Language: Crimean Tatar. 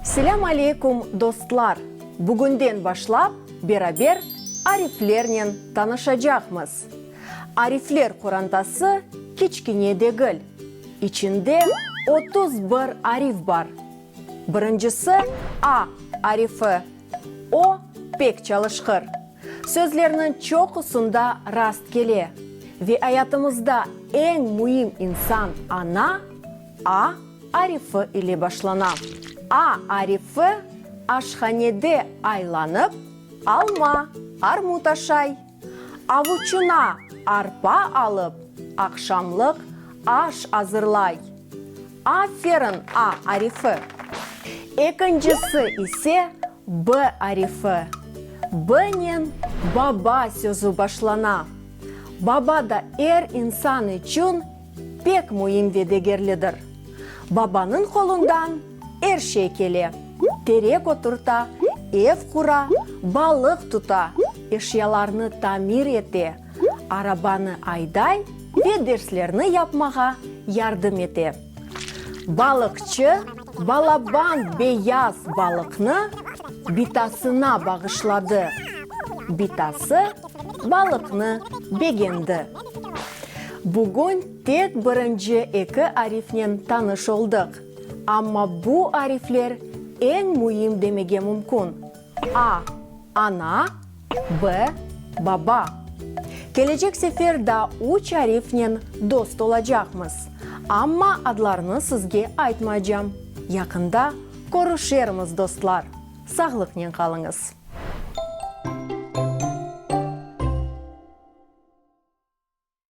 Selâm aleykum dostlar! Bugünden başlap beraber ariflernen tanışacaqmız. Arifler qorantası kiçkine degil. İçinde otuz bir arif bar. Birincisi A arifi O, pek çalışqır. Sözlerniñ çoqusında rast kele. Ve ayatımızda eñ müim insan ana a arifi ile başlana. A arifi, aşhanede aylanıp, alma, armut aşay. Avuçına arpa alıp, aqşamlıq aş azırlay. Aferin, A arifi. Ekincisi ise B arifi. B-nen baba sözü başlana. Baba da er insan içün Pek müim ve degerlidir. Babanıñ qolundan er şey kele, terek oturta, ev qura, balıq tuta, eşyalarnı tamir ete, arabanı ayday ve derslerni yapmağa yardım ete. Balıqçı balaban beyaz balıqnı bitasına bağışladı. Bitası balıqnı begendi. Bugün tek birinci eki arifnen tanış oldıq, amma bu arifler eñ müim demege mümkün, a. Ana, b. Baba. Kelecek sefer daa üç arifnen dost olacaqmız, amma adlarını sizge aytmaycam. Yaqında körüşermiz, dostlar, sağlıqnen qalıñız!